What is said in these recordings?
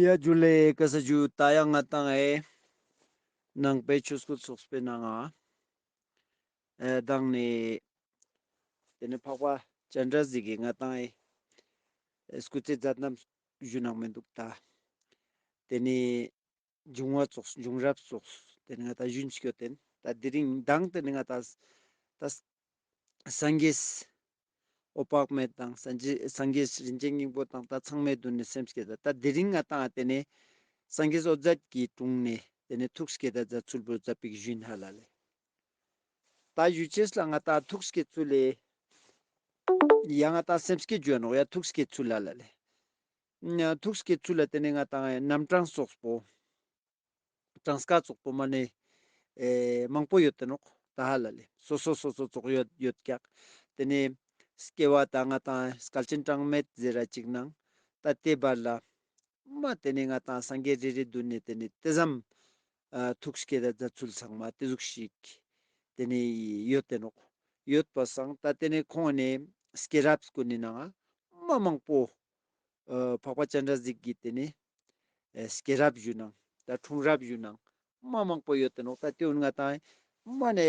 གཡས་གྱུར་ལས་ཀྱི་ས་བཅུ་རྟ་གཡག་རྔ་དང་ཨའི། ནང་པའི་ཆོས་སྐུ་ཚོགས་སྤེལ་ནང་ཨ། དང་ནི། དེ་ནས་འཕགས་པ་སྤྱན་འདྲ་གཟིགས་ཀྱི་རྔ་དང་ཨའི། སྐུ་ཚེ་རྫ་རྣམས་བཞུགས་ནང་མི་འདུག་ད། དེ་ནས། འབྱུང་བ་རྫོགས་འབྱུང་རབ་རྫོགས། དེ་ནི་ང་ད་གཞོན་ཆིག་ཡོད་དེ། དེ་རིང་གདངས་དེ་ནི་ང་ད། སངས་རྒྱས། ཨོ་དཔག་མེད་དང་སངས་རྒྱས་རིན་ཆེན་སྙིང་པོ་དང་ད་ཚང་མའི་དོན་ནི་སེམས་སྐྱེད་ད། དེ་རིང་ང་ད་དེ་ནི། སངས་རྒྱས་ཨོ་རྫས་ཀྱི་དྲུང་ནས། དེ་ནི་ཐུགས་སྐྱེད་ད་རྫ་ཚུལ་བུ་རྫ་པིག་བཞིན་ཧ་ལ་ལས། ད་གཞུ་བྱས་ལ་ང་ད་ཐུགས་སྐྱེད་ཚུལ་ལས། ཡ་ང་ད་སེམས་སྐྱེད་བརྗོད་ནོ་ཡ་ཐུགས་སྐྱེད་ཚུལ་ཧ་ལ་ལས། ཐུགས་ཀྱི་ཚུལ་ལ་བརྟེན་ནས་ང་དང་རྣམ་གྲངས་སོགས་པོ། གྲངས་ཀ་སོགས་པོ་མ་ནས་མང་པོ་ཡོད་དེ་ནོག་ད་ཧ་ལ་ལས་སོ་སོ་སོ་སོ་རྫོགས་ཡོད་ཡོད་ཀྱག་དེ་ནས་སྐྱེ་བ་དང་ང་དང་སྐལ་ཆེན་གྲངས་མེད་ཟེར་ར་ཅིག་སྣང་ད་ལྟའི་བར་ལ་མ་དེ་ནས་ང་དང་སངས་རྒྱས་རེ་རེ་བསྡུར་ནས་དེ་ནས་ལྟེ་བསམ་ཐུགས་ཀྱི་དེ་ད་ཚུལ་ཚང་མ་དེ་གཟུགས་ཤིག་དེ་ནས་ཡོད་དེ་ནོག་ཡོད་པ་སངས་ད་དེ་ནས་ཁོང་ནས་སྐྱེ་རབས་ཀུན་ནས་ནང་མ་མང་པོ་འཕགས་པ་སྤྱན་རས་གཟིགས་ཀྱིས་དེ་ནས། སྐྱེས་རབས་བཞུགས་ནང་དང་འཁྲུངས་རབས་བཞུགས་ནང་མ་མང་པོ་ཡོད་དོ་ནོག་ད་དུས་ང་དང། མ་ནས་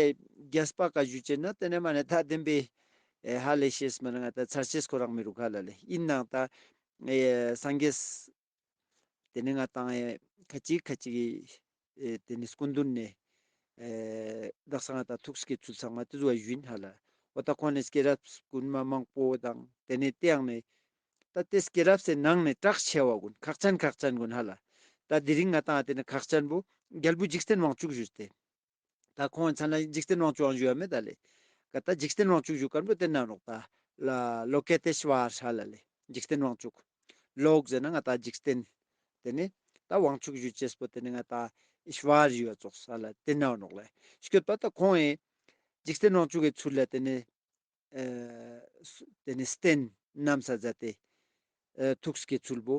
རྒྱལ་སྤ་ཀ་བཞུགས་ཅེ་ན་དེ་ནས་མ་ནས་ད་དེན་པའི། ཧ་ལས་ཤེས་སྨོན་ང་ད་ཚར་ཆེས་ཁོ་རང་མི་རུ་ཁ་ལ་ལས་ཡིན་ནང་ད། སངས་རྒྱས། དེ་ནས་ང་དང། ཁ་ཅིག་ཁ་ཅིག། དེ་ནས་སྐུ་མདུན་ནས། བདག་སང་ངེ་དང་ཐུགས་ཀྱི་ཚུལ་ཚང་མ་དེ་བཟོ་བ་ཡིན་ཧ་ལ། བ་ད་ཁོང་ནས་སྐྱེས་རབས་དགོན་མ་མང་པོ་དང་དེ་ནས་དེའང་ནས། ད་དེ་སྐྱེས་རབས་སའི་ནང་ནས་གྲགས་ཆེ་བ་དགོན་ཁག་ཅན་ཁག་ཅན་དགོན་ཧ་ལ། ད་དེ་རིང་ང་དང་དེ་ནས་ཁག་ཅན་པོ་རྒྱལ་པོ་འཇིག་རྟེན་དབང་ཕྱུག་བཞུགས་ཏེ། ད་ཁོང་མཚན་ལ་འཇིག་རྟེན་དབང་ཕྱུག་ཨང་བཞུགས་ཡ་མེད་ད་ལས། ག་ད་འཇིག་རྟེན་དབང་ཕྱུག་བཞུགས་ཀར་འགྲོ་དེ་ནང་རོགས་ད། ལ་ལོ་ཀེ་ཏེ་ཤི་བ་ཨར་ཧ་ལ་ལས་འཇིག་རྟེན་དབང་ཕྱུག། ལོག་ཟེར་ན་ང་ད་འཇིག་རྟེན། དེ་ནི་ད་ཝང་ཆུག་གཞུ་ཅེས་པོ་དེ་ནི་ང་ད་ཨིཤ་བཱ་རི་ཡོད་ཙོགས་ས་ལ་དེ་ནའོ་ནོག་ལ་ཤོད་པ་ད་ཁོང་ཨེ་འཇིགས་སྟེ་ནོག་ཆུ་གའི་ཚུར་ལ་དེ་ནི་དེ་ནི་སྟེན་ནམ་ས་ཛ་དེ་ཐུགས་ས་གའི་ཚུལ་བུ་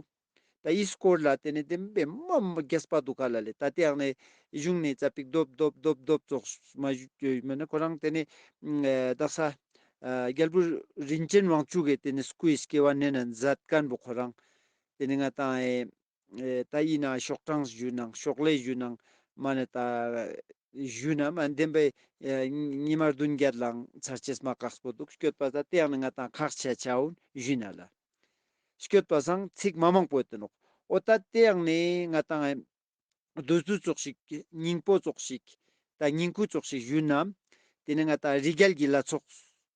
ད་ཨིས་སྐོར་ལ་དེ་ནི་དེ་མི་པེ་མ་མ་རྒྱས་པ་འདུག་ག་ལ་ལས་ད་དེ་ཡང་ནི་གཞུང་ནི་ཛ་པིག་རྡོབ་རྡོབ་རྡོབ་རྡོབ་ཙོགས་མ་ཞུས་མེད་ན་ཁོ་རང་དེ་ནི་བདག་ས་རྒྱལ་པོ་རིན་ཅེན་ཝང་ཆུ་གའི་དེ་ནི་སྐུའི་སྐྱེ་བ་གནས་ན་མཛད་དཀར་པོ་ཁོ་རང་དེ་ནི་ང་དང་ཨེ་ད་ཡིན་ན་ཤོག་གྲངས་བཞུས་ནང་ཤོག་ལས་བཞུས་ནང་མ་ནི་ད་བཞུས་ན་མ་འདེམས་པའི་ཉི་མ་བདུན་བརྒྱད་ལའང་ཚར་སྐྱེས་མ་གགས་པོ་འདུག་སྐྱོད་པ་ད་དེ་ཡང་ནི་ང་དང་ཁག་ཆད་ཆ་བོན་བཞུས་ན་ལ་སྐྱོད་པ་སང་ཚིག་མ་མང་པོ་ཡོད་དོ་ནོག་ཨོ་ད་དེ་ཡང་ནི་ང་དང་ཨེ་རྡོ་ཟུར་ཙོག་ཞིག་སྙིང་པོ་ཙོག་ཞིག་ད་སྙིང་ཁུ་ཙོག་ཞིག་བཞུས་ནམ་དེ་ནི་ང་དང་རི་རྒྱལ་གྱི་ལ་ཚོགས།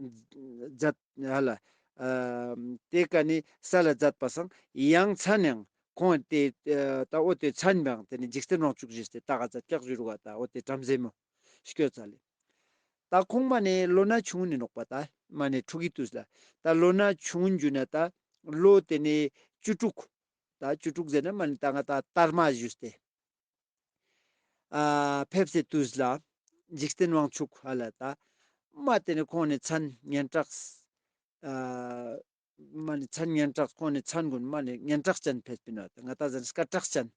བརྫད། ཧ་ལ། དེ་ཀ་ནི་ས་ལ་བརྫད་པ་སང་ཡང་ཚ་ནའང་ཁོང་ཨ་དེ་ད་ཨོ་དེ་ཚ་ནི་པའང་དེ་ནི་འཇིག་རྟེན་རང་བཅུག་བཞི་སྟེ་ད་ག་ཚ་ཀྱག་བཞུར་བ་ད་ཨོ་དེ་བྲམ་ཟེ་མོ། སྐྱོ་ཚ་ལས། ད་ཁོང་མ་ནི་ལོ་ན་ཆུང་ནི་ནོག་པ་ད་མ་ནི་ཕྲུག་གི་དུས་ལ་ད་ལོ་ན་ཆུང་འཇུ་ན་ད་ལོ་དེ་ནི་བཅུ་དྲུག། ད་བཅུ་དྲུག་ཟེར་ན་མ་ནི་ད་ང་ད་དར་མ་བཞུས་སྟེ། ཕེབས་སེ་ཏུས་ལ། འཇིག་རྟེན་དབང་ཕྱུག་ཧ་ལ་ད། མ་དེ་ནི་ཁོང་ནི་མཚན་སྙན་གྲགས། མ་ནི་མཚན་སྙན་གྲགས་ཁོང་ནི་མཚན་དགོན་མ་ནི་སྙན་གྲགས་ཅན་ཕེབས་ཀྱིན་ནོ་ད། ང་ད་གཟན་སྐར་གྲགས་ཅན།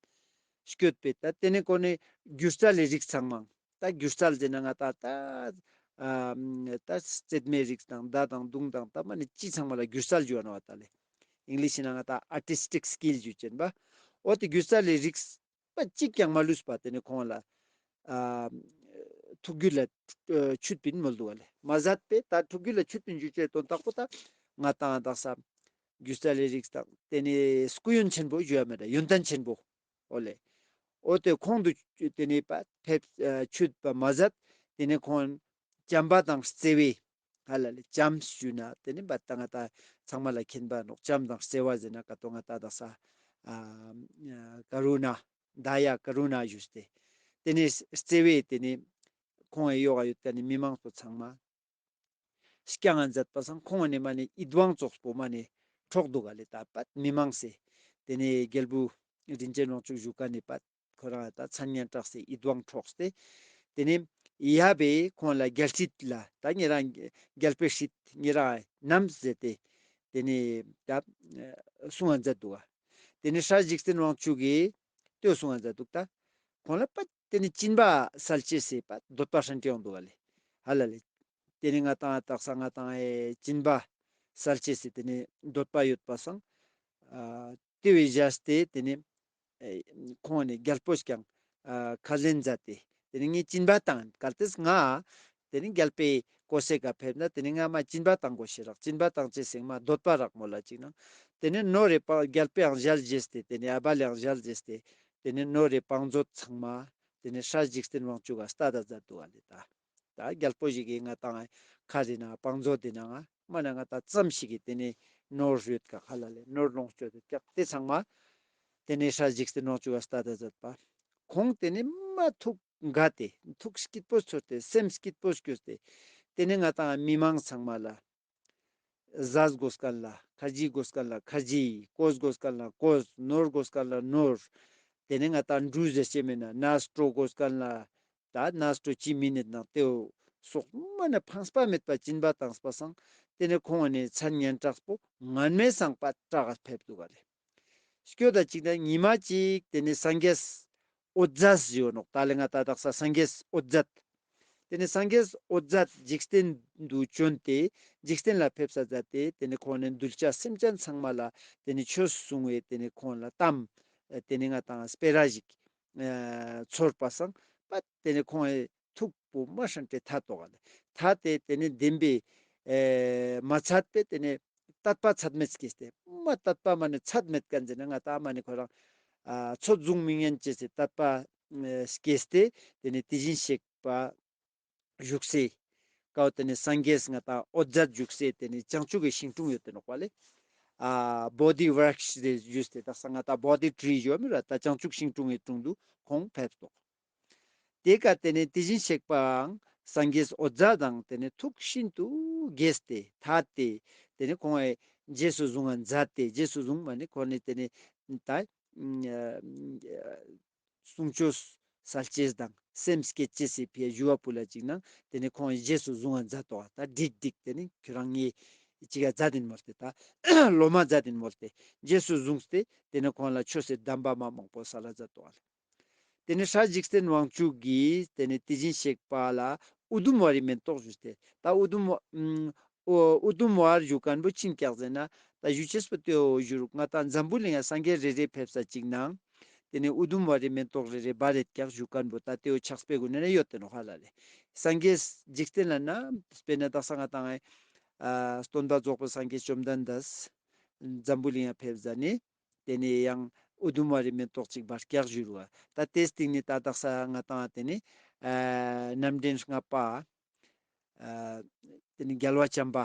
བསྐྱོད་པས་ད་དེ་ནི་ཁོ་ནི་སྒྱུ་རྩལ་ལས་རིགས་ཚང་མང། ད་སྒྱུ་རྩལ་ཟེར་ན་ང་ད་ལྟ་ད་རྩེད་མའི་རིགས་དང་བརྡ་དང་གདུང་དང་ད་མ་ནི་སྤྱི་ཚང་མ་ལ་སྒྱུ་རྩལ་འགྱུར་བ་ན་བ་ད་ལས English ན་ང་ད Artistic Skill བརྗོད་ཀྱིན་པ་འོ་དེ་སྒྱུ་རྩལ་ལས་རིགས་པ་གཅིག་ཀྱང་མ་ལུས་པ་དེ་ནི་ཁོང་ལ་ཐུགས་རྒྱུད་ལ་ཆུད་པིན་མོལ་འདུག་བ་ལས་མ་ཟད་པས་ད་ཐུགས་རྒྱུད་ལ་ཆུད་པིན་རྒྱུ་བཅས་དོན་དག་པོ་ད་ང་དང་དག་ས་སྒྱུ་རྩལ་ལས་རིགས་དང་དེ་ནི་སྐུ་ཡོན་ཆེན་པོ་བརྗོད་ཡ་མེད་ཡོན་ཏན་ཆེན་པོ་ཨོ་ལེ། ཨོ་དེ་ཁོང་དུ་དེ་ནས་ཆུད་པ་མ་ཟད་དེ་ནས་ཁོང་བྱམས་པ་དང་བརྩེ་བས་ཧ་ལ་ལས་བྱམས་ཞུས་ན་དེ་ནས་བལྟ་ང་ད་ཚང་མ་ལ་མཁྱེན་པ་འདོག་བྱམས་དང་བརྩེ་བ་བཟེད་ན་ག་ཏོ་ང་ད་དག་ས་ཀ་རུ་ན་ད་ཡ་ཀ་རུ་ན་ཞུས་ཏེ་དེ་ནས་བརྩེ་བས་དེ་ནས་ཁོང་ཨེ་ཡོ་ག་ཡོད་དེ་ནས་མི་མང་ཚོ་ཚང་མ། སྐྱ་ང་མཛད་པ་སང་ཁོང་ནི་མ་ནི་ཨི་དབང་ཙོགས་པོ་མ་ནི་ཁྲོག་འདུག་ག་ལི་ད་པད་མི་མང་སེ། དེ་ནི་རྒྱལ་བུ། རིན་ཅེན་རོང་ཕྱུགས་བཞུགས་ག་ནི་པད་ཁོ་རང་ལ་ད་མཚན་སྙན་གྲགས་སེ་ཨི་དབང་ཁྲོགས་སྟེ། དེ་ནི། ཡ་པས་ཁོང་ལ་རྒྱལ་ཁྲིད་ལ་ད་ངེད་རང་རྒྱལ་པོས་ཁྲིད་ངེད་རང་ནམ་ཟེ་ཏེ། དེ་ནི། ད། སུང་ང་མཛད་འདུག་ག། དེ་ནི་ཧྲ་གཞིག་སེན་རོང་ཕྱུགས་གིས་ལྟོས་སུང་ང་མཛད་འདུག་ད། ཁོང་ལ་པད། དེ་ནི་སྤྱིན་པ་སལ་བྱེད་བྱས་པ་འདོད་པ་ཧྲན་ཏེའོ་འདུ་བ་ལས་ཧ་ལ་ལས། དེ་ནི་ང་དང་ཨ་སྟག་ས་ང་དང་ཨའི་སྤྱིན་པ་སལ་བྱེད་བྱས་དེ་ནི་འདོད་པ་ཡོད་པ་སང། དེ་བས་གཞལ་ཏེ་དེ་ནི། ཁོང་ནི་རྒྱལ་པོ་ཞིག་ཀྱང་ཁ་ལེན་མཛད་དེ་དེ་ནི་ངའི་སྤྱིན་པ་དང་གལ་ཏེ་ང། དེ་ནི་འགལ་པས་གོ་བསལ་ག་ཕེབས་ན་དེ་ནི་སྔ་མ་སྐྱིན་པ་དང་གོ་ཤེས་རག་སྐྱིན་པ་དང་བཅས་སེང་མ་སྡོད་པ་རག་མོ་ལ་གཅིག་ན། དེ་ནི་རྣོ་རེ་པང་རྒྱལ་པའང་གཞལ་བཞེས་ཏེ་དེ་ནི་ཨ་བ་ལའང་གཞལ་བཞེས་ཏེ། དེ་ནི་རྣོ་རེ་པང་མཛོད་ཚང་མ། དེ་ནི་ཧྲ་འཇིགས་བརྟེན་དབང་ཕྱུག་ག་སྟ་དང་ཛར་དུ་བ་ལི་ད། ད་རྒྱལ་པོ་ཞིག་གིས་ང་དང་ཁ་རེ་ན་པང་མཛོད་དེ་ནང་ཨ་མ་ན་ང་ད་ཙམ་ཞིག་གིས་དེ་ནི་རྣོ་རོད་ག་ཁ་ལ་ལས་རྣོར་ལོངས་སྤྱོད་དུ་བཀྱག་སྟེ་ཚང་མ། དེ་ནི་ཧྲ་འཇིགས་བརྟེན་དབང་ཕྱུག་ག་སྟ་དང་ཛར་དུ་བ། ཁོང་དེ་ནི་མ་ཐུབ། འགའ་སྟེ་ཐུགས་སྐྱིད་པོ་ཚོར་ཏེ་སེམས་སྐྱིད་པོར་གྱུར་ཏེ། དེ་ནས་ང་དང་མི་མང་ཚང་མ་ལ། གཟའ་བསྒོ་སྐལ་ལ་ཁ་རྗེས་བསྒོ་སྐལ་ལ་ཁ་རྗེས། བསྐོ་བསྒོ་སྐལ་ལ་བསྐོ། ནོར་བསྒོ་སྐལ་ལ་ནོར། དེ་ནས་ང་དང་འབྲུ་བཟའ་སྐྱེས་མི་ན་ན་སྤྲོ་བསྒོ་སྐལ་ལ། ད་ན་སྤྲོ་སྐྱེས་མི་ནི་དང་ཏེའོ། སོག་མ་ནི་འཕངས་པ་མེད་པར་བྱིན་པ་དང་སྤ་གསང། དེ་ནས་ཁོང་བ་ནས་མཚན་སྙན་གྲགས་པོ་ངར་མའི་གསང་པ་བཀྲ་ཕེབས་འདུག་ག་ལས། སྐྱོ་ད་ཅིག་ད་ཉི་མ་ཅིག་དེ་ནས་སངས་རྒྱས། ཨོ་ཛས་ཡོད་ནོག་ད་ལེ་ང་ད་དག་ས་སངས་རྒྱས་ཨོ་ཛས། དེ་ནས་སངས་རྒྱས་ཨོ་ཛས་འཇིག་རྟེན་དུ་བྱོན་ཏེ་འཇིག་རྟེན་ལ་ཕེབས་ས་ཛ་སྟེ་དེ་ནས་ཁོང་ནས་གདུལ་བྱ་སེམས་ཅན་ཚང་མ་ལ་དེ་ནས་ཆོས་གསུང་བས་དེ་ནས་ཁོང་ལ་གཏམ། དེ་ནས་ང་དང་སྤེ་ར་ཞིག། ཚོར་པ་སངས་པ་དེ་ནས་ཁོང། ཐུག་པུ་མ་ཧྲན་ཏེ་ཐ་ཏོ་ག་ལ་ཐ་སྟེ་དེ་ནི་བདེན་པས་མ་ཚད་པས་དེ་ནི་ཏད་པ་ཚད་མེད་ཀྱིས་ཏེ་མ་ཏད་པ་མ་ནི་ཚད་མེད་ཀ་འཛིན་ན་ང་ཏཱ་མ་ནི་ཁོ་རང་ཚོ་བཟུང་མི་ཉན་ཅེས་སི་ཏད་པ་ཀྱིས་ཏེ་དེ་ནི་དེ་བཞིན་གཤེགས་པ་བཞུགས་སའི་ཀའོ་དེ་ནི་སངས་རྒྱས་ང་ཏཱ་ཨོ་རྫས་བཞུགས་སའི་དེ་ནི་བྱང་ཆུབ་ཀྱི་ཞིང་དྲུང་ཡོད་དུ་ནོག་པ་ལས་བྷོ་དྷི་བྷྲཱི་ཤྲཱི་རས་བཞུགས་སའི་དག་ས་ང་ཏཱ་བྷོ་དྷི་བྲི་ཡོ་མི་ར་ཏཱ་བྱང་ཆུབ་ཤིང་དྲུང་ངའི་དྲུང་དུ་ཁོང་ཕེབས་སོ། དེ་ཀ་དེ་ནས་དེ་བཞིན་གཤེགས་པའང་སངས་རྒྱས་ཨོ་རྫ་དང་དེ་ནས་ཐུགས་ཤིན་ཏུ་དགྱེས་ཏེ་ད་སྟེ་དེ་ནས་གོང་བས་རྗེས་སུ་བཟུང་བ་མཛའ་སྟེ་རྗེས་སུ་བཟུང་བ་ནི་འཁོར་ནི་དེ་ནི་ད་གསུང་ཆོས་གསལ་སྐྱེས་དང་སེམས་སྐྱེད་བྱེད་སྲིད་པའི་བཞུ་བ་པུ་ལ་ཅིག་ན་དེ་ནས་གོང་བས་རྗེས་སུ་བཟུང་བ་མཛའ་ཏོ་བ་ད་བསྒྲིགས་བསྒྲིགས་དེ་ནི་ཁྱོད་རང་ངེད་ཅིག་ཡ་མཛའ་དེ་ནི་མོ་སྟེ་ད་ལོ་མ་མཛའ་དེ་ནི་མོ་སྟེ་རྗེས་སུ་བཟུང་སྟེ་དེ་ནས་གོང་ལ་ཆོས་སྲིད་གདམས་པ་མ་མང་པོ་ས་ལ་མཛའ་ཏོ་བ་ལས། དེ་ནས་ཧྲཱི་འཇིགས་བརྟེན་དབང་ཕྱུག་གིས་དེ་ནས་དེ་བཞིན་གཤེགས་པ་ལ་ཨུ་དུམ་ཝཱ་རའི་མེ་ཏོག་ཞུས་ཏེ། ད་ཨུ་དུམ་ཝཱ། ཨུ་དུམ་ཝཱ་ར་གཞུ་གང་པོ་ཆིངས་བཀྱག་མཛད་ན། ད་གཞུ་ཆེས་པོ་སྟོད་འོག་གཞུར་མངའ་བདག་འཛམ་བུའི་གླིང་ཡང་སངས་རྒྱས་རེ་རེས་ཕེབས་ས་གཅིག་གནང། དེ་ནས་ཨུ་དུམ་ཝཱ་རའི་མེ་ཏོག་རེ་རེ་སྦར་རེ་བཀྱག་གཞུ་གང་པོ་ད་སྟེ་འོ་ཆགས་སྤེལ་དགོས་ན་ནི་ཡོ་ཏན་བྷ་ལ་ལས། སངས་རྒྱས་འཇིགས་བརྟེན་ལ་ན་སྤེལ་ན་བདག་ས་ང་དང། སྟོན་པ་རྫོགས་པའི་སངས་རྒྱས་བཅོམ་ལྡན་འདས། འཛམ་བུའི་གླིང་ཡང་ཕེབས་ས་ནི། དེ་ནས་ཡང་ཨུ་དུམ་བ་རི་མེ་ཏོག་གཅིག་བར་སྐྱག་བཞུར་བ། ད་དེ་སྟེང་ནས་ཏག་ཏག་ས་ལྔ་བཏང་བ་དེ་ནི། རྣམ་འདྲེན་ལྔ་པ། དེ་ནི་རྒྱལ་བ་བྱམས་པ་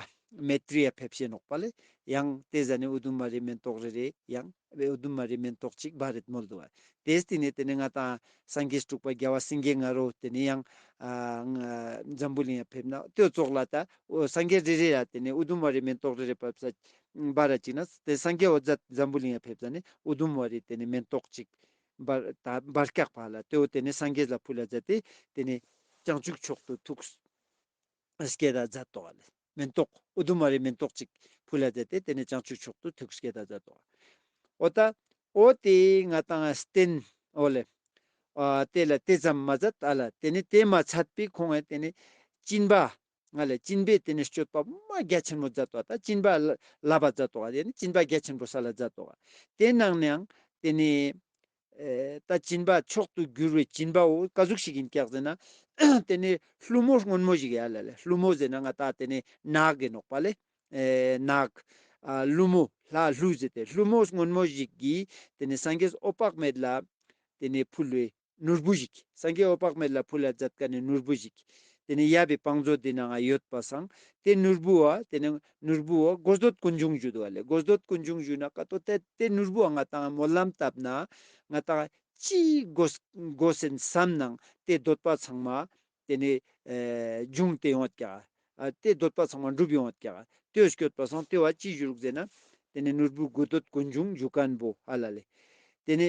མེ་ཏྲི་ཡ་ཕེབས་ཤེས་ནོག་པ་ལས་ཡང་དེ་ཟ་ནས་ཨུ་དུམ་བ་རི་མེ་ཏོག་རེ་རེ་ཡང་ཨུ་དུམ་བ་རི་མེ་ཏོག་གཅིག་བར་རིལ་མོ་བསྡུ་བ། དེ་སྟེང་ནས་དེ་ནི་ལྔ་དང་སངས་རྒྱས་དཀྲུགས་པ་རྒྱལ་བ་སེང་གེ་ལྔ་རོ་དེ་ནི་ཡང། འཛམ་བུ་གླིང་ཡ་ཕེབས་ན་ལྟོས་བཙོག་ལ་ད་སངས་རྒྱས་རེ་རེ་ཡ་དེ་ནི་ཨུ་དུམ་བ་རི་མེ་ཏོག་རེ་རེ་བབས་ས། འབའ་ར་ཅིག་ན་དེ་སངས་རྒྱས་འོ་ཛཱ་འཛམ་བུའི་གླིང་ཡ་ཕེབས་ཙ་ནི་འུ་དུམ་བ་རི་དེ་ནི་མེན་ཏོག་ཅིག། འབར། ད་འབར་སྐྱག་བག་ལ་དེའོ་དེ་ནི་སངས་རྒྱས་ལ་ཕུ་ལ་ཛཱ་སྟེ་དེ་ནི། བྱང་ཆུབ་མཆོག་ཏུ་ཐུགས། སྐྱེ་ད་ཛཱ་ཏོ་བ་ལ། མེན་ཏོག། འུ་དུམ་བ་རི་མེན་ཏོག་ཅིག། ཕུ་ལ་ཛཱ་སྟེ་དེ་ནི་བྱང་ཆུབ་མཆོག་ཏུ་ཐུགས་སྐྱེ་ད་ཛཱ་ཏོ་བ། འོ་ད། འོ་དེ་ང་དང་སྟེན། འོ་ལེ། ཨ་དེ་ལ་དེ་ཙམ་མ་ཛཱ་ད་ལ་དེ་ནི་དེ་མ་ཚད་པའི་ཁོང་ཨེ་དེ་ནི། བཅིན་པ། ང་ལ་སྤྱིན་པའི་དེ་ནས་སྤྱོད་པ་པདྨ་རྒྱ་ཆེན་མོ་མཛད་དོ། ད་སྤྱིན་པ་ལ་ལ་བ་མཛད་དོ། དེ་ནས་སྤྱིན་པ་རྒྱ་ཆེན་པོ་ས་ལ་མཛད་དོ། དེ་རྣམས་ནའང་དེ་ནས། ད་སྤྱིན་པ་མཆོག་ཏུ་གྱུར་བའི་སྤྱིན་པ་འོ་ཀ་གཟུགས་ཤིག་གིས་བཀྱགས་ཟིན་ན། དེ་ནས་ལྷུ་མོ་སྔོན་མོ་ཞིག་ཡལ་ལ་ལས་ལྷུ་མོ་ཟིན་ན་ང་ད་དེ་ནས་ནགས་ཀྱི་ནོག་པ་ལས། ནགས། ལྷུ་མོ་ལྷ་ལྷུ་ཟིན་ཏེ་ལྷུ་མོ་སྔོན་མོ་ཞིག་གིས་དེ་ནས་སངས་རྒྱས་སུ་ཨོ་དཔག་མེད་ལ། དེ་ནས་ཕུལ་བས། ནོར་བུ་ཞིག། སངས་རྒྱས་འོད་དཔག་མེད་ལ་ཕུལ་ལ་བཛྲ་དཀའ་ནི་ནོར་བུ་ཞིག། དེ་ནི་ཡབ་པའི་བང་མཛོད་འདི་ན་འང་ཡོད་པར་བསམ། དེ་ནོར་བུ་འང། དེ་ནི་ནོར་བུ་འང་སྒོ་སྡོད་ཀུན་འབྱུང་བཞུད་བ་ལས་སྒོ་སྡོད་ཀུན་འབྱུང་བཞུད་ན་ཀ་ཏོ་དེ་དེ་ནོར་བུ་འང་ང་དང་སྨོན་ལམ་བཏབ་ན། ང་དང། ཅི། སྒོ་ཟིན་བསམ་ནང་དེ་སྡོད་པ་ཚང་མ། དེ་ནི། འབྱུང་སྟེ་ཡོངས་བཀྱག། དེ་སྡོད་པ་ཚང་མ་འགྲུབ་ཡོངས་བཀྱག། དེ་སྐྱོད་པ་སངས་དེ་བ་ཅི་བཞུགས་ཟེར་ན། དེ་ནི་ནོར་བུ་སྒོ་སྡོད་ཀུན་འབྱུང་བཞུགས་ཀན་པོ་ཨ་ལ་ལས། དེ་ནི།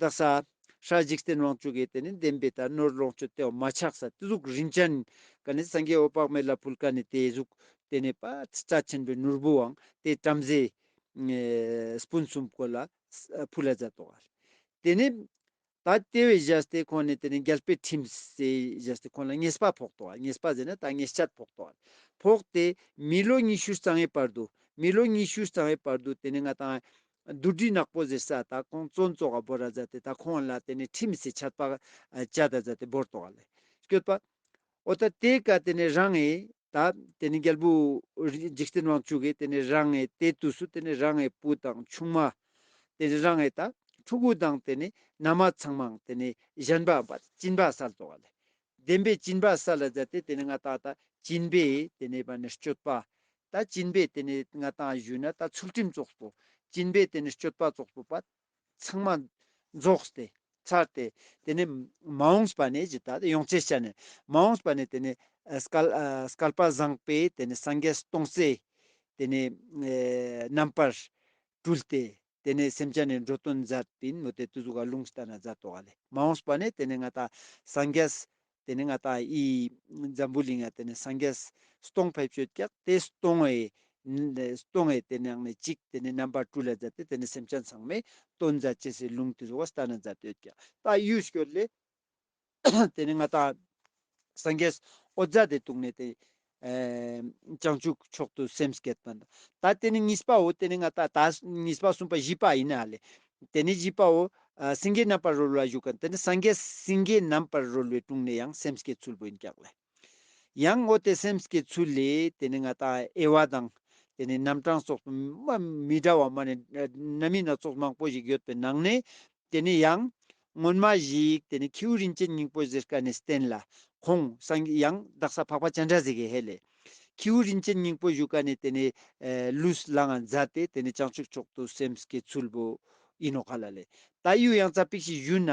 བདག་ས། ཧྲཱི། འཇིག་རྟེན་དབང་ཕྱུག་གི་དེ་ནི་བདེན་པའི་དག་ནོར་ལོངས་སྤྱོད་དེའོ་མ་ཆགས་ས་ཏེ་གཟུགས་རིན་ཅན། ཀ་ནི་སངས་རྒྱས་འོད་དཔག་མེད་ལ་ཕུལ་ཀ་ནི་དེའི་གཟུགས། དེ་ནི་པ། རྩ་ཆེན་པོའི་ནོར་བུའང་དེ་བྲམ་ཟེ། སྤུན་གསུམ་གོ་ལ། བུ་ལ་ཛ་དོ། དེ་ནི། ད་ལྟེ་བའི་གཞལ་ཏེ་ཁོང་ནི་དེ་ནི་འགལ་པའི་ཁྲིམས། སའི་གཞལ་ཏེ་ཁོང་ལ་ངེས་པ་ཕོག་དོ། ངེས་པ་ཟེར་ན་ད་ངེས་ཆད་ཕོག་དོ། ཕོག་སྟེ། མི་ལོ་ཉི་ཤུར་གཙང་བའི་བར་དུ། མི་ལོ་ཉི་ཤུར་གཙང་བའི་བར་དུ་དེ་ནི་ང་དང། རྡོ་སྦྲུལ་ནག་པོ་ཟེར་ས་དག་ཁོང་གཙོ་འཛོ་ག་བོ་ར་ཛ་དེ་དག་ཁོང་ལ་དེ་ནས་ཁྲི་མི་སེ་ཆར་པག་ཅ་ད་ཛ་དེ་བོར་ཏོ་ག་ལེ་སྐྱོད་པ། འོ་ད་དེ་ག་དེ་ནས་རང་ཨེ་ད་དེ་ནས་རྒྱལ་པོ་འཇིག་རྟེན་དབང་ཕྱུག་གི་དེ་ནས་རང་ཨེ་དེ་དུས་སུ་དེ་ནས་རང་ཨེ་བུ་དང་ཆུང་མ། དེ་ནས་རང་ཨེ་ད་ཕྲུ་གུ་དང་དེ་ནས་ན་མ་ཚང་མའང་དེ་ནས་གཞན་པའམ་པ་ཅིན་པ་སར་ཏོ་ག་ལེ་བདེན་པའི་སྤྱིན་པ་ས་ལ་བརྫད་དེ་དེ་ནས་ང་ཏག་ཏག་སྤྱིན་པས་དེ་ནས་པ་ནི་སྤྱོད་པ། ད་སྤྱིན་པས་དེ་ནས་ང་ཏག་བཞུད་ན་ད་ཚུལ་ཁྲིམས་རྫོགས་སོ། སྤྱིན་པས་དེ་ནས་སྤྱོད་པ་རྫོགས་སོ་པ། ཚང་མ། རྫོགས་ཏེ། ཚར་ཏེ། དེ་ནས། མ་འོངས་པ་ནས་ཇི་ལྟ་ཡོངས་ཚད་བྱ་ནས། མ་འོངས་པ་ནས་དེ་ནས། སྐལ་པ་བཟང་པས་དེ་ནས་སངས་རྒྱས་སུ་སྟོང་གསལ། དེ་ནས། རྣམ་པར། སྤྲུལ་ཏེ། དེ་ནས་སེམས་ཅན་ནི་འགྲོ་དོན་མཛད་བིན་མོ་དེ་དུ་ཟུག་ག་ལུང་ལྟ་ན་མཛད་དོ་ག་ལས། མ་འོངས་པ་ནི་དེ་ནི་ང་དང་སངས་རྒྱས། དེ་ནི་ང་དང་ཨི། འཛམ་བུའི་གླིང་ཡང་དེ་ནི་སངས་རྒྱས། སྟོང་ཕལ་ཆོད་ཀྱག་དེ་སྟོང་ངེ། སྟོང་ངེ་དེ་ནི་ནི་གཅིག་དེ་ནི་རྣམ་པ་བཀྲུ་ལས་མཛད་དེ་དེ་ནི་སེམས་ཅན་ཚང་མས་དོན་མཛད་ཅེས་སའི་ལུང་དུ་ཟུག་ག་ལྟ་ན་མཛད་དོ་ག་ལྟ་གཡུལ་སྐྱོད་ལས། དེ་ནས་ང་དང། སངས་རྒྱས། ཨོ་རྫ་དེ་དུག་ནད་དེ། བྱང་ཆུབ་མཆོག་ཏུ་སེམས་བསྐྱེད་པ། ད་དེ་ནས་གཉིས་པའོ་དེ་ནས་ང་དང་ད། གཉིས་པ་གསུམ་པ་བཞི་པ་ཡིན་ཨ་ལས། དེ་ནས་བཞི་པའོ། སེང་གེ་རྣམ་པར་རོལ་བ་བཞུགས། དེ་ནས་སངས་རྒྱས་སེང་གེ་རྣམ་པར་རོལ་བའི་དྲུང་ནས་ཡང་སེམས་བསྐྱེད་ཚུལ་བུ་ཨིན་སྐྱག་ལས། ཡང་ངོ་དེ་སེམས་ཀྱི་ཚུལ་ལས་དེ་ནི་ང་དང་ཨེ་བ་དང། དེ་ནི་རྣམ་གྲངས་སོགས་མི་འདྲ་བ་མ་ནི་རྣམ་སྨིན་སྣ་ཚོགས་མང་པོ་ཞིག་ཡོད་པའི་ནང་ནས་དེ་ནི་ཡང། སྔོན་མ་ཞིག་དེ་ནི་ཁྱེའུ་རིན་ཆེན་སྙིང་པོ་ཟེར་ཀ་ནས་བསྟན་ལ། ཁོང་སང་ཡང་བདག་ས་འཕགས་པ་སྤྱན་དྲངས་ཟིག་ཧེ་ལས། ཁྱེའུ་རིན་ཆེན་སྙིང་པོ་བཞུགས་ཀ་ནས་དེ་ནི་ལུས་ལའང་མཛའ་སྟེ་དེ་ནི་བྱང་ཆུབ་མཆོག་ཏུ་སེམས་ཀྱི་ཚུལ་བུ་ཡིན་ནོ་ག་ལ་ལས། ད་གཡུ་ཡང་རྩ་པིག་ཞིག་བཞུས་ན།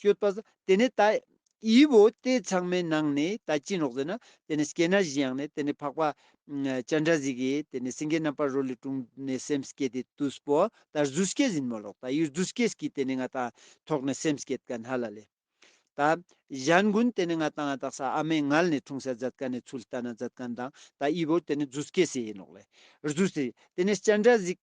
ཤོད་པ། དེ་ནས་ད་ཡིས་བོ་དེ་ཚང་མའི་ནང་ནས་ད་ཅིན་རོགས་ཟེར་ན་དེ་ནས་སྐྱེས་ན་བཞི་ཡང་ནས་དེ་ནས་འཕགས་པ། ཅཱན་དྲ་ཟིག་གིས་དེ་ནས་སེང་གེ་རྣམ་པར་རོལ་ལས་དྲུང་ནས་སེམས་བསྐྱེད་དེ་ཏུས་བོ་ད་རྫུས་སྐྱེས་ཟིན་མོ་ལོག་ད་ཡུལ་རྫུས་སྐྱེས་གིས་དེ་ནས་ང་དང་ཐོག་ནས་སེམས་བསྐྱེད་ཀ་ན་ལ་ལས། ད་གཞན་དགུན་དེ་ནས་ང་དང་ང་དང་ས་ཨ་མའི་ངལ་ནས་འཁྲུངས་སའི་ཛད་ཀ་ནས་ཚུལ་ལྟ་ན་ཛད་ཀ་ན་དང་ད་ཡིས་བོ་དེ་ནས་རྫུས་སྐྱེས་སེ་ཡིན་ནོག་ལས་རྫུས་སེ་དེ་ནས་སྐྱེས་དྲ་ཟིག།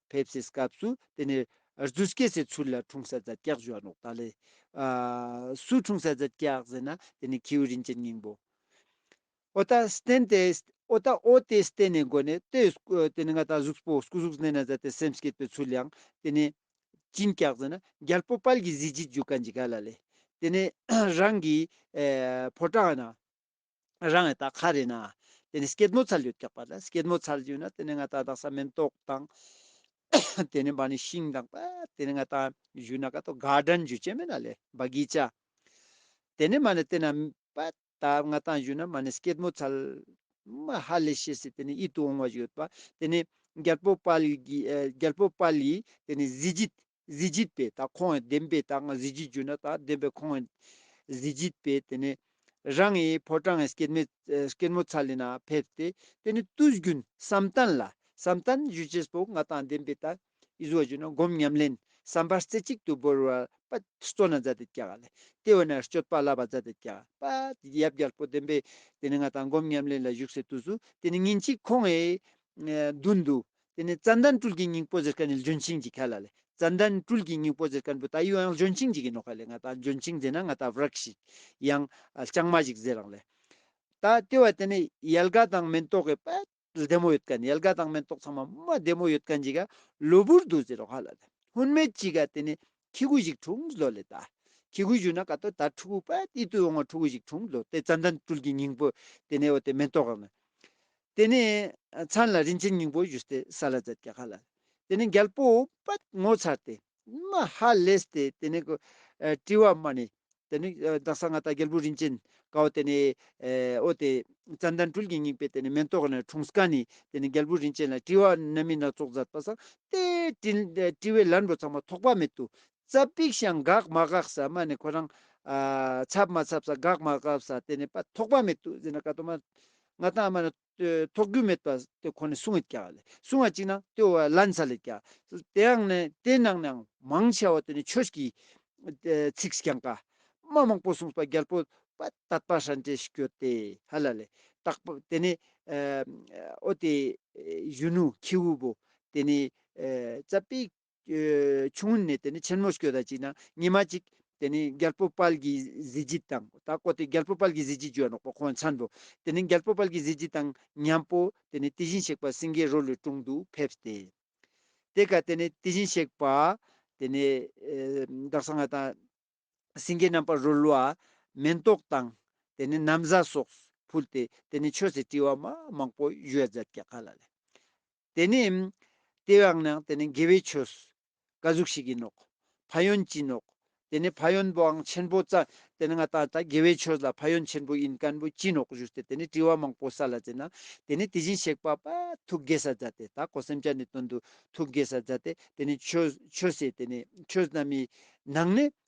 ཕེབས་སའི་སྐབས་སུ་དེ་ནས་རྫུས་སྐྱེས་སའི་ཚུལ་ལ་འཁྲུངས་ས་རྫ་སྐྱག་བཞོ་བ་ནོག་ད་ལེ། སུ་འཁྲུངས་ས་རྫ་སྐྱག་ཟེར་ན་དེ་ནི་ཁྱེའུ་རིན་ཆེན་སྙིང་པོ། ཨོ་ད་སྟན་ཏེ་ཨོ་ད་ཨོ་ཏེ་སྟན་ནས་འགོ་ནས་ཏེ་དེ་ནི་ང་ད་གཟུགས་པོ་སྐུ་གཟུགས་སྣེ་ན་ཟ་སྟེ་སེམས་སྐྱེས་པའི་ཚུལ་ཡང་དེ་ནི། གཅིན་སྐྱག་ཟེར་ན་རྒྱལ་པོ་དཔལ་གྱི་གཟི་བརྗིད་རྒྱུ་སྐ་འཇི་ག་ལ་ལེ། དེ་ནས་རང་གི་ཕོ་བྲང་ན། རང་ཡང་ད་ག་རེད་ན། དེ་ནས་སྐྱེད་མོ་ཚར་ལུས་བཀྱགས་པ་ལ་སྐྱེད་མོ་ཚར་ལུས་ན་དེ་ནས་ང་ད་དག་ས་མེན་ཏོག་དང། དེ་ནས་བ་ནི་ཤིང་དང་བ་དེ་ནས་ང་ད་ཇུ་ན་ག་ཏོ་ག་དྲན་ཇུ་ཅན་མེ་ན་ལེ་བ་གི་ཅ། དེ་ནས་མ་ནི་དེ་ན་བ་ད་ང་ད་ཇུ་ན་མ་ནི་སྐྱེད་མོ་ཚར། མ་ཧ་ལེ་ཤེ་སི་དེ་ནས་ཡིད་དུ་འོང་བ་ཞིག་ཡོད་པ་དེ་ནས་རྒྱལ་པོ་པ་ལི་གི་རྒྱལ་པོ་པ་ལི་དེ་ནས་གཟི་བརྗིད་གཟི་བརྗིད་པས་དག་ཁོང་ཡང་བདེན་པས་དག་གཟི་བརྗིད་གྱུར་ན་དག་བདེན་པས་ཁོང་ཡང་གཟི་བརྗིད་པས་དེ་ནས་རང་ངའི་ཕོ་བྲང་ངའི་སྐྱེད་སྐྱེད་མོ་ཚ་ལས་ན་ཕེབས་ཏེ་དེ་ནས་བརྟུལ་བརྒྱུད་བསམ་གཏན་ལ་བསམ་གཏན་བཞུགས་བྱེད་པོ་ང་དང་བདེན་པས་དག་ཡིད་གཟུ་བ་གྱུར་ན་སྒོམ་ཉམས་ལེན་བསམ་པ་རྩེ་གཅིག་ཏུ་བོར་བར་པ་སྩོལ་ན་ཛཱ་ཏི་ཀྱ་ག་ལས་ལྟེ་བ་ན་སྤྱོད་པ་བསླབ་པ་ཛཱ་ཏི་ཀྱ་པ་ཡབ་རྒྱལ་པོ་བདེན་པས་དེ་ནས་ང་དང་སྒོམ་ཉམས་ལེན་ལ་བཞུགས་སའི་དུས་སུ་དེ་ནས་ཉིན་གཅིག་ཁོང་ངའི་མདུན་དུ་དེ་ནས་ཙན་དན་ཀྲུལ་གྱི་སྙིང་པོ་ཟེར་ཀ་ནི་ལྗོན་ཤིང་གྱི་ཁ་ལ་ལས་ཙན་དན་ཀྲུལ་གྱི་སྙིང་པོ་ཟེར་ཀ་འབུ་ད་ཡུལ་ཡང་ལྗོན་ཤིང་གཅིག་གི་ནོ་ཁ་ལས་ང་ད་ལྗོན་ཤིང་ཟེར་ན་ང་ད་བརག་ཤིག་ཡང་རྐྱང་མ་ཞིག་ཟེར་རང་ལས། ད་ལྟེ་བ་དེ་ནི་ཡལ་ག་དང་མེན་ཏོག་གི་པད་བདེ་མོ་ཡོད་ཀ་ནི་ཡལ་ག་དང་མེན་ཏོག་ཚང་མ་མ་བདེ་མོ་ཡོད་ཀ་འཇིག་ག་ལུ་བུར་འདུག་ཟེར་རོ་ཧ་ལ་ལས་ཧུན་མེད་ཅིག་ག་དེ་ནི་ཁྱི་གུ་ཞིག་འཁྲུངས་བཟློ་ལས་ད་ཁྱི་གུ་བཞུགས་ན་ག་ཏོ་ད་ཕྲུ་གུ་པད་ཏི་ཏུ་ཡོང་ང་ཕྲུ་གུ་ཞིག་འཁྲུངས་བཟློ་དེ་ཙན་དན་ཀྲུལ་གྱི་སྙིང་པོ་དེ་ནས་ཨོ་དེ་མེན་ཏོག་ག་ནི། དེ་ནས་ཚར་ལ་རིན་ཆེན་སྙིང་པོ་བཞུ་སྟེ་ས་ལ་འཛད་ཀྱི་ཧ་ལ། དེ་ནས་རྒྱལ་པོ་པད་མོ་ཚར་ཏེ་མ་ཧ་ལས་ཏེ་དེ་ནས་དྲི་བ་སྨྲ་ནས། དེ་ནས་བདག་སང་ང་ད་རྒྱལ་པོ་རིན་ཆེན་གའོ་དེ་ནས་ཨོ་དེ། ཙན་དན་སྤྲུལ་གྱི་སྙིང་པོས་དེ་ནས་མེ་ཏོག་ནས་འཁྲུངས་ཀ་ནས་དེ་ནས་རྒྱལ་པོ་རིན་ཆེན་ལ་དྲི་བ་སྣ་མིན་སྣ་ཚོགས་མཛད་པ་སང་སྟེ་དྲི་བའི་ལན་རོ་ཚང་མ་ཐོགས་པ་མེད་དུ་རྩ་པིག་ཤང་འགག་མ་འགག་ས་མ་ནི་ཁོ་རང། ཚབ་མ་ཚབ་ས་འགག་མ་འགག་ས་དེ་ནི་པ་ཐོག་པ་མེད་དུ་ཟིན་ན་ཀ་ཏོ་མ། ང་ཏང་མ་ནི། ཐོག་རྒྱུ་མེད་པ་དེ་ཁོ་ནི་སུ་ངས་ཀྱག་ལེ་སུ་ང་ཅིག་ན་དེ་བ་ལན་ཚ་ལེ་ཀྱག། དེའང་ནི་དེ་ནང་ནའང་མང་ཆེ་བ་དེ་ནི་ཆོས་ཀྱི། ཚིགས་ཀྱང་ཀ། མ་མང་པོ་གསུངས་པ་རྒྱལ་པོ། པ་དད་པ་ཧྲན་ཏེ་ཞིག་ཡོད་དེ་ཧ་ལ་ལེ། དག་པ་དེ་ནི། ཨོ་དེ། གཞོན་ནུ་ཁྱེའུ་བོ། དེ་ནི། རྩ་པིག། ཆུང་ནས་དེ་ནས་ཆེན་མོ་སྐྱོ་ད་ཅིག་ན་ཉི་མ་ཅིག་དེ་ནས་རྒྱལ་པོ་དཔལ་གྱི་གཟི་བརྗིད་དང་ད་ཀོ་དེ་རྒྱལ་པོ་དཔལ་གྱི་གཟི་བརྗིད་བརྗོད་ནོག་པོ་ཁོང་ཚང་དུ་དེ་ནས་རྒྱལ་པོ་དཔལ་གྱི་གཟི་བརྗིད་དང་མཉམ་པོ་དེ་ནས་དེ་བཞིན་གཤེགས་པ་སེང་གེའི་རོ་ལུས་དྲུང་དུ་ཕེབས་ཏེ། དེ་ཀ་དེ་ནས་དེ་བཞིན་གཤེགས་པ་དེ་ནས་བདག་སང་ང་དང། སེང་གེ་རྣམ་པར་རོལ་བ། མེ་ཏོག་དང། དེ་ནས་ནམ་བཟའ་སོགས་ཕུལ་ཏེ་དེ་ནས་མཆོད་ཟས་བཀྲི་བ་མ་མང་པོ་བཞོས་མཛད་ཀྱ་ག་ལ་ལས། དེ་ནི། དེ་བས་ན་དེ་ནི་དགེ་བའི་ཆོས་སུ། དགའ་གཟུགས་ཤིག་ཡིན་ནོ། ཕ་ཡོན་གྱིས་ནོ། དེ་ནི་ཕ་ཡོན་པོའང་ཆེན་པོ་རྩ། དེ་ནི་ང་ད་ལྟ་དགེ་བའི་ཆོས་ལ་ཕ་ཡོན་ཆེན་པོ་ཡིན་ཀན་པོ་གྱིས་ནོ་གཞུག་སྟེ་དེ་ནི་དྲི་བ་མང་པོ་ས་ལ་འཛིན་ན། དེ་ནི་དེ་བཞིན་གཤེགས་པ་པདྨ་ཐུགས་དགེ་སར་མཛད་དེ་ད་གོ་སེམས་ཅན་ནི་དོན་དུ་ཐུགས་དགེ་སར་མཛད་དེ་དེ་ནི་ཆོས་ཆོས་སེ་དེ་ནི་ཆོས་རྣམས་ཡི། ནང་ནི།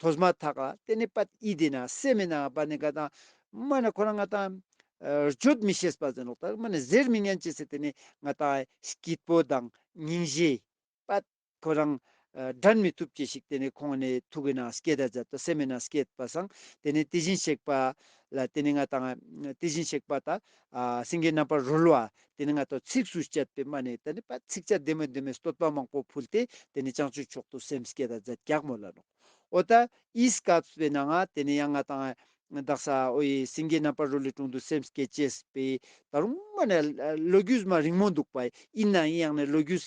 དོ་སྨ་ཐ་ག་ཏེ་ནི་པད་ཨི་དེ་ན་སེ་མེ་ནའང་པ་ནི་ག་དང། སྨ་ནི་ཁོ་རང་ང་དང། རྗོད་མི་ཤེས་པ་ཟེར་ནོ་ལྟར་སྨ་ནི་ཟེར་མི་སྙན་ཅི་སེ་ཏེ་ནི་ང་དང། སྐྱིད་པོ་དང་སྙིང་རྗེ། པད་ཁོ་རང། དྲན་མི་ཐུབ་ཅི་ཞིག་ཏེ་ནི་ཁོང་ནི་ཐུག་གི་ན་སྐྱེས་ད་ཛད་དོ་སེ་མེ་ན་སྐྱེས་པ་སང་ཏེ་ནི་དེ་བཞིན་གཤེགས་པ། ལ་ཏེ་ནི་ང་དང། དེ་བཞིན་གཤེགས་པ་ད། སེང་གེའི་རྣམ་པར་རོལ་བ་དེ་ནས་སྔ་དྲོ་ཚིགས་སུ་བཅད་པའི་མ་ནས་ད་ནི་པར་ཚིགས་བཅད་བདེ་མོ་བདེ་མོའི་བསྟོད་པ་མང་པོ་ཕུལ་ཏེ་དེ་ནས་སྤྱང་ཆུའི་ཕྱོགས་དུ་སེམས་བསྐྱེད་དང་རྫས་བརྒྱག་མོ་ལ་ལོག་ཨོ་ད་ཨི་སི་ཀཱ་བས་ན་ང་དེ་ནས་ཡང་ང་དང་བདག་ས་ཨོ་ཡི་སེང་གེའི་རྣམ་པར་རོ་ལི་དྲུང་དུ་སེམས་བསྐྱེད་བཅས་པས་ད་རུང་མ་ནས་ལོ་རྒྱུས་མ་རིང་མོ་འདུག་པ་ཨིན་ན་ཨི་ཡང་ནས་ལོ་རྒྱུས་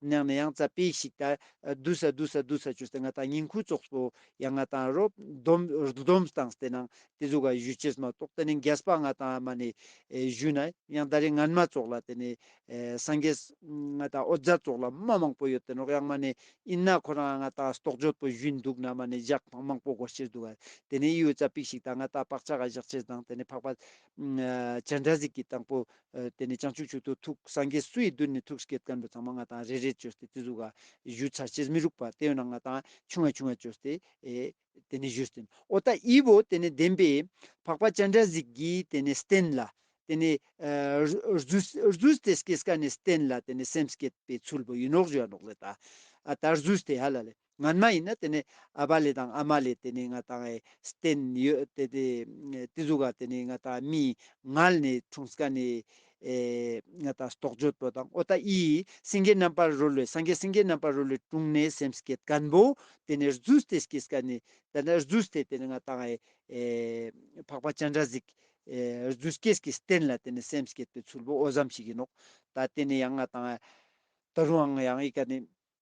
ནང་ན་ཡང་རྩ་པས་ཤིག་ད། བསྡུ་ས་བསྡུ་ས་བསྡུ་ས་ཅུ་སྟེ་ང་དང་ཉིང་ཁུ་ཙོག་སོ། ཡང་ང་དང་རོ། སྡོམ། སྡོམ་སྟངས་སྟེ་ནང། དེ་ཟུག་ག་གཞུ་ཆེས་མ་གཏོགས་དེ་ནས་རྒྱས་པ་ང་དང་མ་ནས། གཞུ་ན་ཡང་ད་རེས་ངན་མ་ཙོག་ལ་དེ་ནས། སངས་རྒྱས། ང་དང་ཨོ་རྫ་ཙོག་ལ་མ་མང་པོ་ཡོད་དེ་ནོག་ཡང་མ་ནས། ཨིན་ན་ཁོ་རང་ང་དང་སྟོག་འཇོད་པོ་བཞུན་འདུག་ན་མ་ནས་བཞག་ཕང་མང་པོ་སྒོ་ཕྱིར་འདུག་ག། དེ་ནས་ཨི་ཡོད་རྩ་པས་ཤིག་ད་ང་དང་བག་ཆགས་ག་བཞག་ཆེས་དང་དེ་ནས་འཕགས་པ། བྱ་འདྲ་ཟིག་གིས་དང་པོ། དེ་ནས་བྱང་ཆུབ་ཆོས་ཐུགས་ཐུགས་སངས་རྒྱས་སུ་ཡི་མདུན་ནས་ཐུགས་སྐྱེད་དཀར་འབྲུ་ཚང་མ་ལྔ་དང་རེ་རེ་བཅོས་ཏེ་བརྩི་གཟུགས་ཀ་གཞུ་ཆར་ཕྱེས་མི་རུག་པ་སྟེ་ཡོད་ན་ལྔ་དང་ཆུང་བས་ཆུང་བ་བཅོས་ཏེ། དེ་ནས་བཞུ་སྟེ། ཨོ་ཏ་ཨི་བོ་དེ་ནས་བདེན་པས། འཕགས་པ་སྤྱན་འདྲ་གཟིགས་ཀྱིས་དེ་ནས་བསྟན་ལ། དེ་ནས། རྫུས་ཏེ་སྐྱེས་ཀ་ནས་བསྟན་ལ་དེ་ནས་སེམས་བསྐྱེད་པའི་ཚུལ་བུ་ཡིན་ནོག་བཞུ་ཡ་ནོག་ལེ་ད། ད་རྫུས་ཏེ་ཡ་ལ་ལེ། ང་མ་ཡིན་ན་དེ་ནས་ཨ་བ་ལེ་དང་ཨ་མ་ལེ་དེ་ནས་ང་དང་ཨེ་སྟེན་ཡོད་དེ་དེ་དེ་ཟུག་ག་དེ་ནས་ང་དང་མི་ང་ལ་ནས་འཁྲུངས་སྐ་ནས་ཨེ་ང་དང་སྟོག་ཇོ་ཏོ་དང་ཨོ་ཏ་ཨི་སེང་གེ་རྣམ་པར་རོལ་བའི་སང་གེ་སེང་གེ་རྣམ་པར་རོལ་བའི་དྲུང་ནས་སེམས་སྐད་དཀར་པོ་དེ་ནས་རྫུས་སྟེ་སྐྱེས་སྐ་ནས་དེ་ནས་རྫུས་སྟེ་དེ་ནས་ང་དང་ཨེ་འཕགས་པ་སྤྱན་འདྲ་ཟིག་ཨེ་རྫུས་སྐྱེས་སྐྱེས་སྟེན་ལ་དེ་ནས་སེམས་སྐད་པའི་ཚུལ་བོ་ཨོ་བཟའམ་ཞིག་ཡིན་ནོ་ད་དེ་ནས་ཡང་ང་དང་ཨེ་ད་རུང་ཨང་ཡང་ཨི་ག་ནས།